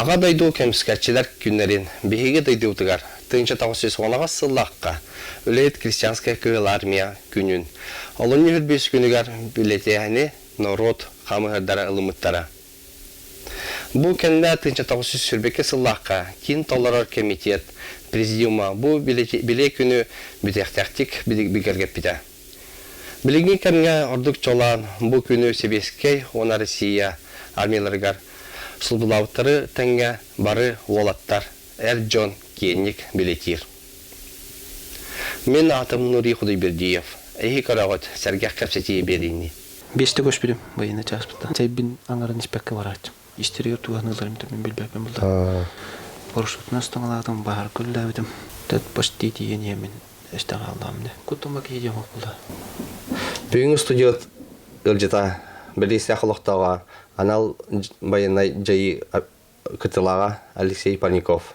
Аҕа дойду кэмискэччилэр күннэрин биһиги дойдубутугар тыынча тоҕус сүүс уонаҕас сыллаахха үлэһит крестьянская кыһыл армия күнүн, олунньу үрдүс күнүгэр бюллетени норуот хамыһырдара ылыммыттара. Бу кэннэ тыынча тоҕус сүүс сүрбэкэ сыллаахха киин толорор кэмитиэт президиума бу билиэ күнү бүтээхтээхтик бигэргэппитэ. Билиҥҥи кэмҥэ ордук чолоон бу күнү сэбиэскэй уонна Россия армияларыгар сулбулаабыттары тэҥҥэ бары уолаттар, эр дьон киэҥник билитиир. Мин аатым Нурий Худайбердиев. Эһи көрөҕүт, сэргэх кэпсэтии биэриини. Биэс да көспүтүм военнай чааспыттан. Чэйбин аҥарын испэккэ барааччым. истэригэр туһаныыларым төбөм билбэппин булда борсутунан станалаатым баһар күллээбитим тэт почти тиийэн иэмин эстэ хааллаам дэ кутума киһи омук була бүгүҥҥү студия ыалдьыта бэлиистээх олохтооҕо анал байанай дьайыы кытылаҕа Алексей Паников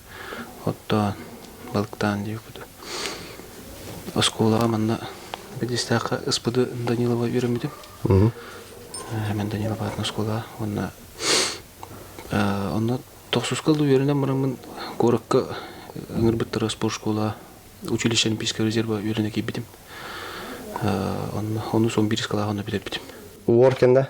оттоон, балыктаан диэккүтэ. Оскуолаҕа манна Бэдистээххэ Ыспыды Данилова үөрэммитим. Мен Данилов аатын оскуолаҕа уонна онно тохсуска да үөрэнэн бараммын куоракка ыҥырбыттара спорт школаҕа училище олимпийскай резерва үөрэнэ киирбитим. Онно онус он бирис кылааҕына бүтэрбитим. Уор кэннэ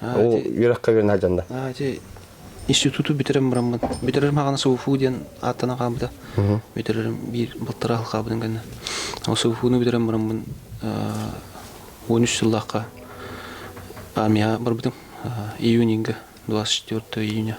Ол үөрэххэ үөрэнэ дьанна. Институту бүтэрем бураммын, бүтэрэрим хаҕана СУФУ диэн ааттана хаалбыта. Бүтэрэрим биир балтараа хыл хаалбытын кэннэ. Ол СУФУну бүтэрэн бураммын он үс сыллаахха армияҕа барбытым. Июньга, 24 июня.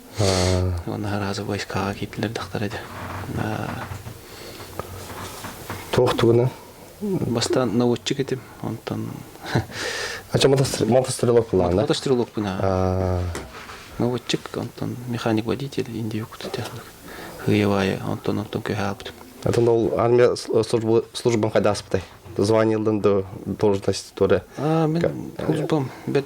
Уонна араазы войскаҕа киирдилэр дьахтар этэ. Туох тугуна? Бастан наводчик этим, онтон... А чем мотострелок плана? Мотострелок плана. Наводчик, онтон механик-водитель индия кутутя. Ыявая, онтон онтон көһаапытым. Это ол армия службам хайдааспытай? Званиелдан до должность тура. А, мен службам бет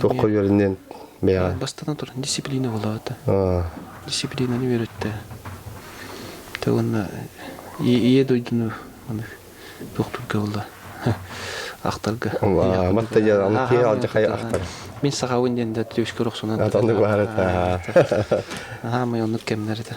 Туохха үөрэниэн бэйэҕэ? Бастатан туран дисциплина буолаата. Дисциплинаны үөрөттө. Уонна ийэ дойдуну туохтуурга буолла ахтарга. Мат да дьэ аны киһи алдьахай ахтар. Мин сахабын диэн да трёшка рохсунан. Атанды баары та. Аха мый оннук кэмнер это.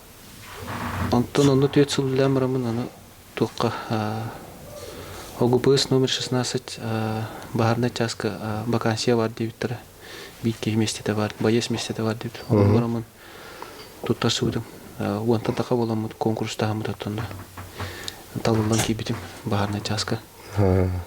Онтон онно түөрт сыллаан бараммын аны туохха ОГПС номер шестнадцать баһаарынай чааска вакансия баар диэбиттэрэ. Биир киһи миэстэтэ баар, байыас миэстэтэ баар диэбит. Онно бараммын туттарсыбытым. Уонтан таха буоламмыт конкурстааһыммыт оттонно. Талыллан киирбитим баһаарынай чааска.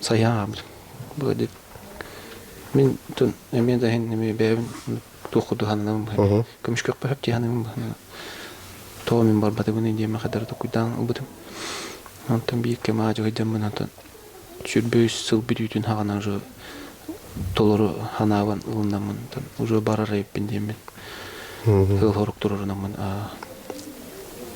Сайаабын быадык мин тун эмиэ да иһин эмиэ бэйэбин туох курдук сананабын быһа көмүскэппэһэп тиһанабын быһа тоҕо мин барбатыбыный диэме хадары токуйдаан ылбытым онтон биир кэм аадьыһыйдаммын онтон сүүрбэ үс сыл бүтүүтүн хаҕана уже толору санаабын ылыннаммын онтон уже барар эбиппин диэммин ыал сорук туруорунаммын аа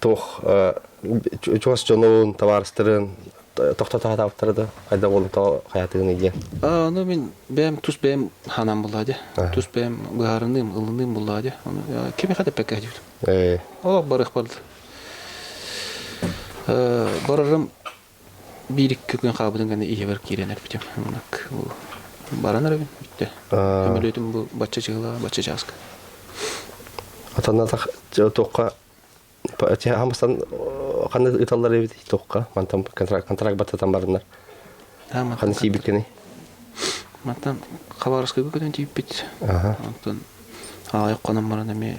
туох чугас дьонун, табаарыстарын тохтотоотаабыттара да хайда буолан тоҕо хайатыгын диэн. Аа, ну мин бэйэм тус бэйэм ханан булаа дэ. Тус бэйэм быһаарыныым, ылыныым булаа дэ. Кими хатыппакка диютум. Олох барых барда. Барарым Биир-икки күн хаалбытын кэннэ ийэбэр киирэн эппитим, «Муннук, баран эрэбин бүттэ. Көмөлүөтүм бу бачча чыгылаа, бачча чааска». Атанатах туохха хаһан бастан ханна ыыталлар эбитий туохха? Мантан контракт контракт баттатан бараннар. Ханна тиийбиккиний? Мантан Хабаровскайга көтөн тиийбиппит. Оттон аҕайах хонон баран эмиэ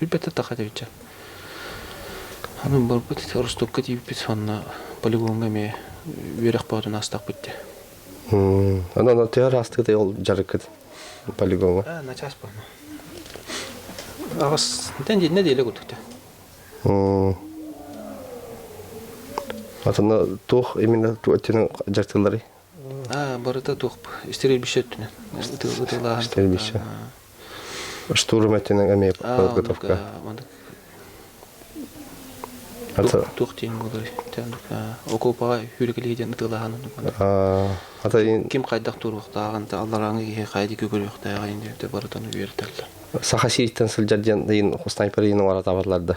Билбэтэ тах этиһиччэ. Аны барбыт Ростокка тиийбиппит сонно полигоҥҥа эмиэ үөрэх боотун астахпыт дии. Аны аны тыа араастыгыт ол дьарыккыт полигоҥҥа? Аа, начаас буолна. Аҕыс тэн динне диэлэ куттута. Атына туох именно туоттинен жартылары барыта туохпу стерильбище өттүнэн ытыылаһан стерильбище штурматынан эмиэ подготовка туох диэн буолуй окуопаҕа хүрүкэлиһи диэн ытыылаһан атын ким хайдах туруохтааҕын алларааҥы киһи хайдык көрүөхтээҕин диэн барытын үөрэтэллэр саха сириттэн сылдьар диэн ыйын снайпер ыйын оҥоро табаллар да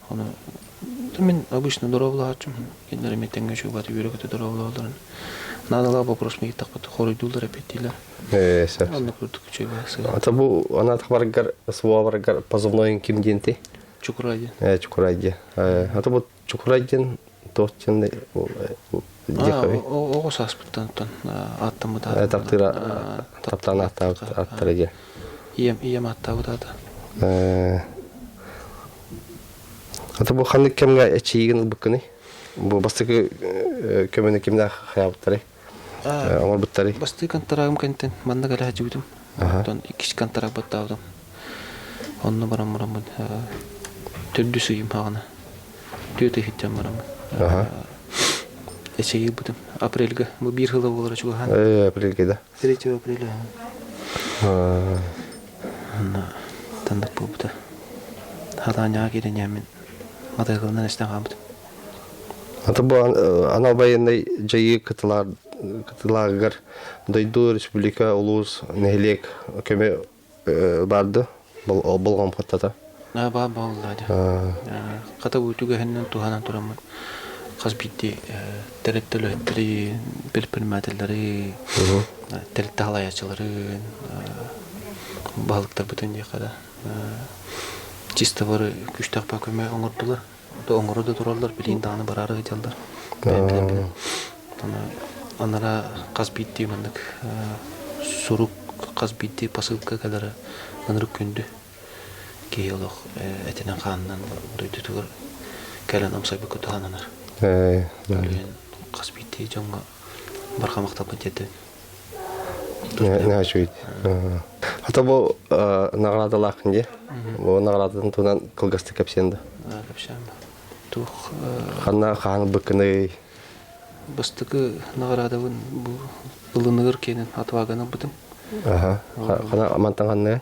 Аны мин обычно доруобулааччым, кинилэр эмиэ тэҥҥэ чугаат үөрэ-көтө доруобулаалларын наадалаах боппуруоску ииттэхпит хоруйдууллар эппиэттиилэр. Ээ, сөп. Оннук курдук үчүгэйэ сыыһа. Ата бу анатабаргар суобаргар позывноен ким диэн ти? Чукурай диэн. Ээ, Чукурай диэн. Ата бу Чукурай диэн Тоҕус чынды диэкови. Оҕо сааспыттан оттон ааттаммыт аата. Таптыыра таптаан ааттаабыт ааттара диэн. Ийэм ийэм ааттаабыт аата. Ата бу ханнык кэмҥэ эчийигин ылбыккыный? Бу бастакы көмөнө кимнээх хаябыттарай? оҥорбуттарый бастыы контрагым кэнтэн манна кэлэ садьыгытым оттон иккис контрак баттаабытым онно баран бараммын төрдүс ыйым ааҕына түөрт ый сылдьан бараммын эчэйи ылбытым апрельга бу биир сыла буолара чугаһаан апрельга да третьего апреля онно тандык буолбута халаанньаҕа киирэн яаммын матайкалынан эстэн хаамбытым Аты бу анал байыаннай дьайыы кытылааҕыгар дойду, республика, улуус, нэһилиэк көмө барды болҕомтото. Баар буолла хата бу түгэһиннэн туһанан тураммыт хас биирдии тэрилтэлэри предпринимателлэри тэрилтэ халаайаччыларын баһылыктарбытын диэхэрэ чисто бары күстэх көмө оҥордулар да оҥоро да тураллар билиэн даҕаны бараары сылдьаллар бэйэм билэн билэн анаа анараа хас биирдии маннык сурук хас биирдии посылка кэлэрэ ынырык күндү киһи олох этинэн хаанынан дойдутугар кэлэн амсайбыкка туһананар хас биирдии дьоҥҥо барҕа махталбын тиэрдэбин наһаа үчүгэй хата бу наҕараадалаах дии бу наҕараадатын туһунан кылгастык кэпсиэн да туох ханна хаан быккыный бастакы наҕараадабын бу ылыныгар киэнин отваганы бытым аха хана мантан ханна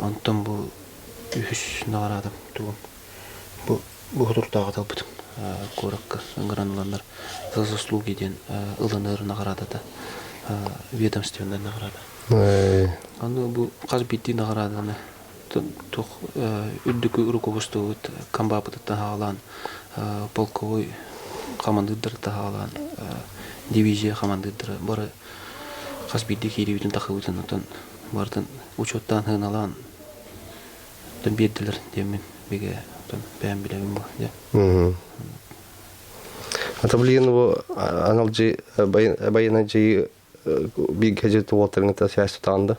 Онтон бу үһүс наҕараадам тугум бу Боһутурдааҕыта ылбытым куоракка грануланар «За заслуги» диэн ылынар наҕараадата ведомственнай наҕараада. Аны бу хас биирдии наҕарааданы туох үрдүкү рукопустубут комбапытыттан хаалаан полковой хамандыырдары таһаалаан дивизия хамандыырдара бары хас биирдии киирибитин тахсыбытын оттон барытын учуоттаан сыаналаан оттон биэрдилэр диэммин бигэ оттон бэйэм билэбин бу дьэ ата билигин бу аналдьы байанайдьыйы бииргэ дьиэ уолтарыҥыта сääстэ таанда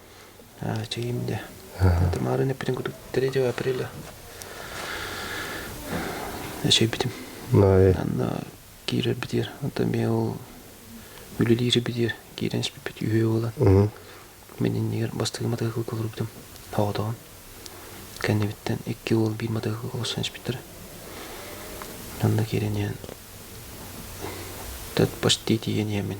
чэгиим да. Тамарын эппитин курдук 3 апреля эчэйбитим. Анна киирэр битиэр. Оттон мен ол үлэлиир битиэр киирэн испиппит үһүө буолан. Мин иннигэр бастыгы матыгы кылырбытым. Тоҕотоҕон. Кэннибиттэн икки уол биир матыгы олсон испиттэр. Анна киирэн иһэн. Тат почти тиийэн иһэмин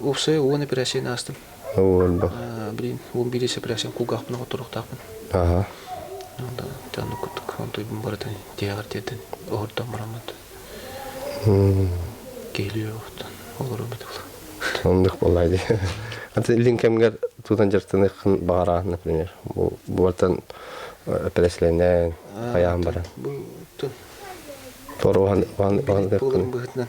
Уопсайа уон эпэрээссийэни аастым. Уон бах. Блин, ол биирис эпэрээссийэм кулгаахпын оҕотторуохтаахпын. Аха. Онда тыаннык курдук онтуйбун барытын тиһэҕэр тиэрдэн оһордон бараммыт. Киһилиэҕиттэн олору бытылла. Оннук болай дии. Аты илин кэмгэр туутан дьарыктаныаххын баҕарааһын, например. Бу буортан эпэрээссийэлэнэн, хайаан баран. Бу туруһан быһытынан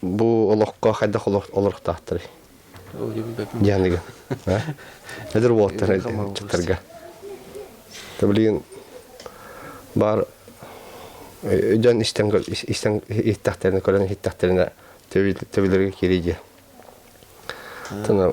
Бу олоххо хайдах олорохтаахтарый? Дианыгын. Эдэр уолаттар чыттарга. Блин, бар дьон истэн истэхтэринэ көрөн иһиттэхтэринэ төбөлөргө кириди. Тана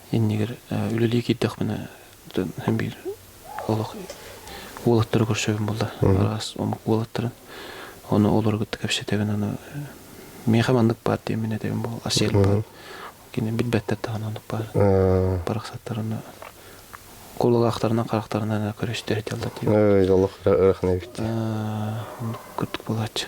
иннигэр үлэлии киирдэхпинэ биир олох уолаттары көрсөбүн буолла араас омук уолаттарын ону олору кытта кэпсэтэбин аны миэхэ маннык баар диэмин этэбин бу асиэн баар кини билбэттэр даҕаны оннук баар барахсаттарына кулалаахтарынан харахтарынан көрөстөр этэллэр диэн олох ырахан эбит курдук буолааччы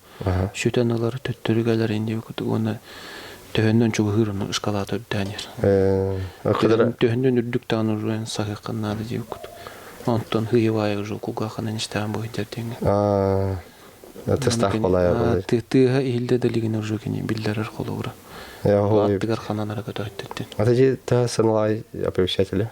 сүтэн ылар төттөрү кэлэр инде уонна төһөннөн чугаһыыр ону ыскалаата үрдээн иһэр төһөннөн үрдүк даҕаны уже саһыаххан наада диэбиккут онтон хыйывая уже кулгаахынан истэҕин быһыйдар диэҥҥэ тыстаах балая балай тыа иһилдэ далигин уже кини биллэрэр холобура аттыгар хананара көтөттүттэн ата же та саналай оповещателя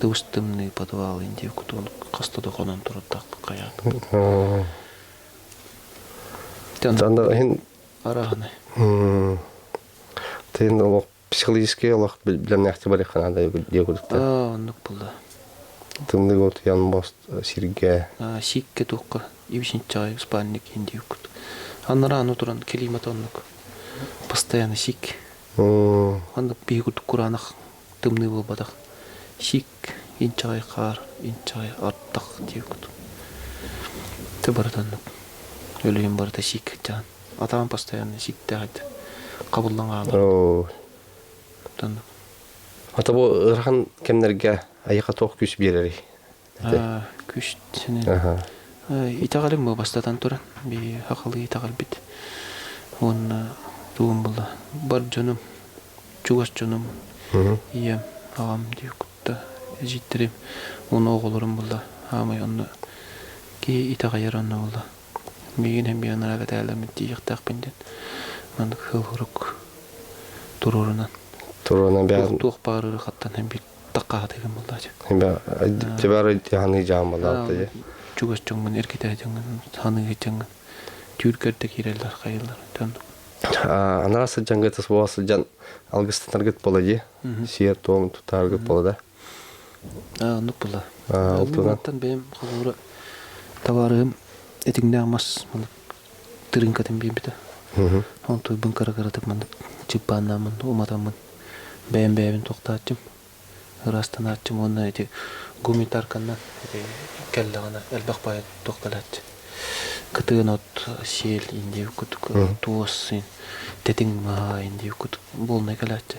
Тыбыс тымныы подвал инди кутун хаста да хонон турдахпын хайаатым. Анда иһин арааны. Тин олох психологический олох билемнэхти бар хана да диэгутта. Оннук булда. Тымныы гот ян бост сирге. Сикке токка ибисин чай спанник инди кут. Анрааны туран климат оннук. Постоянно сик. Анда бигут куранах тымныы буолбатах сик инчэҕэй хаар инчэҕэй ардах диэбиккит ты барытыннык өлүйэн барыта сик ачаан атаан постоянно сиктээх этэ хабыллан хаалар оо оттон ата бу ыарахан кэмнэргэ айыха туох күүс биэрэрий Күшсинэн итэҕэлим бу бастатан туран сахалыы итэҕэлбит уонна тугум була бар дьонум чугас дьонум ийэм аҕам диэн кытта эдьиийдэрим уонна оҕолорум була аамай онно киһи итэҕэйэр онно була миигин һэмбиэ анараа кэтээлэммит тиийиэхтээхпин диэн маннык сыл турук туруорунан туруона туох баар ырахаттан һэмбиир таххаатыгын буллаача да бары ханыы жаамалаата же чугас дьоҥҥун эргитээ дьоҥҥун ханыы дьоҥҥун түүлгэрдэ киирэллэр хайыллар тон анаа сыдьанга тас була сыдьан алгыстанаргыт бола же сиэр туом тутааргыт бола да а ну була алтынан бэйэм холуура табаарыым этиҥнээх мас тырыыҥкатын биэрбитэ. Ол туйбун кыра-кыратык маннык чыппааннааммын уматаммын бэйэм бэйэбин тохтооччум ыраастанааччым уонна ити гумитарканнан кэллэҕинэ элбэх поэт тохтолооччу кытыын от сиэл индиэбит кутук туос син тэтиҥ маһа индиэбит кутук буолунай кэлээччи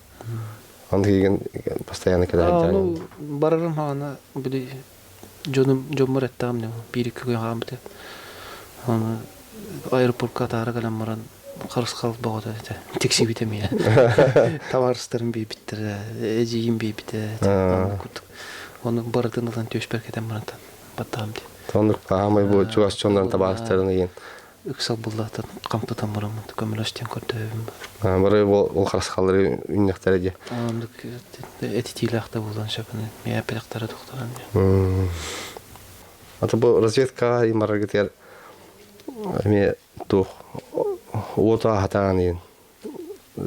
Аны кийгин постоянно кэлэһин Ну, барарым хаана били дьонум дьоммор эттэҕим дьон биир-икки күн хаамбыт этэ. Аны аэропортка атаара кэлэн баран харысхал бөҕөтө этэ. Тиксибит эмиэ. Табаарыстарым биэрбиттэрэ, эдьиийим биэрбитэ. Аны курдук Ону барытын ылан түөспэр кэтэн баран баттаам диэн. Оннук хаамай бу чугас дьоннорун табаарыстарын ыйын ыксал буллаатан хампытан бараммын көмөлөс диэн көрдөһөбүн бары бары ол харысхаллары үннэхтэрэ дии ааннык этитиилээх да буолан сөбүнэн миэпилэхтэрэ тохторон диэн ата бу разведкаҕа имараргытыгар эмиэ туох уоту аһатаан иһин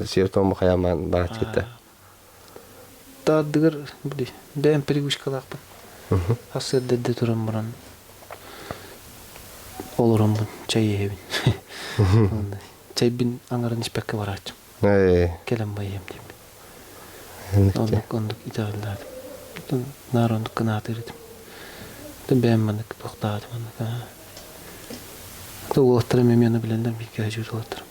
Севтом Махаяман бааччыта. Таардыгар бэйэм пригушкалаахпын. Ассыырдэрде туран баран олороммун чай иһэбин. Чайбин аңарын испэккэ барааччым. Кэлэн байыам диэбин. Оннук оннук итэҕиллээтим. Наар оннук кынаатыр этим. Бэйэм маннык тохтаатым оннук. Уолаттарым эмиэ аны билэллэр бииргэ дьууталаттарым.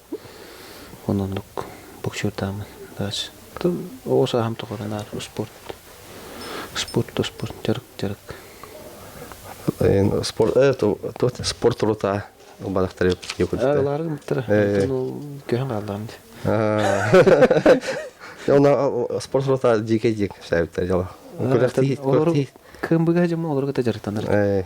Ол оннук боксердаамын. Тыл оҕо сааһым тухары наар спорт спорт да спорт дьарык дьарык. Спорт спорт рта бадахтары спорт рота дикэ дик саэптар дьола. Кымбыга дьома олорга да дьарыктанар.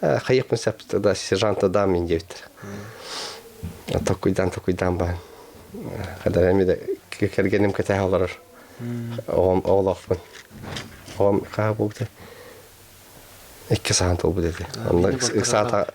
хайыахпын сөп да сержанта дам мин диэбит токуйдаан токуйдаан баан когда эмиде кэргеним кэтэһэ олорор оҕом оҕолоохпун оҕом хаа бугута икки саан толбут эти онно ыксаата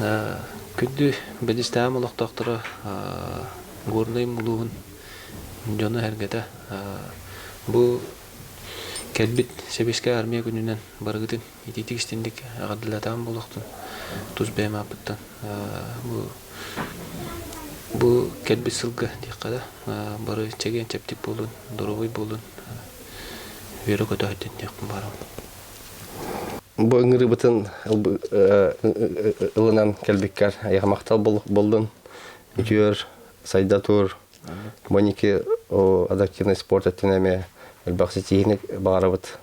Күндү бэдистэхэм олохтоохторо Горнайым улууһун дьоно-сэргэтэ бу кэлбит сэбиэскэй армия күнүнэн барыгытын итиитик истиндик эҕэрдэлэтэҕим буолуохтун тус бэйэм ааппыттан бу бу кэлбит сылга диэххэ да бары чэгиэн чэбдик буолун доруобуй буолун үөрэ көтө сылдьын диэхпин баҕарабын Бу ыҥырыбытын ылынан кэлбиккэр айахмахтал боллун үтүөр сайда тур боники адаптивный спорт өттүнэ эмиэ элбэх ситиһиини баҕарабыт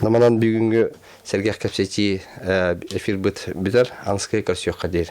наманан бүгүҥҥү сэргэх кэпсэтии эфирбыт бүтэр анскай көрсүөххэ диир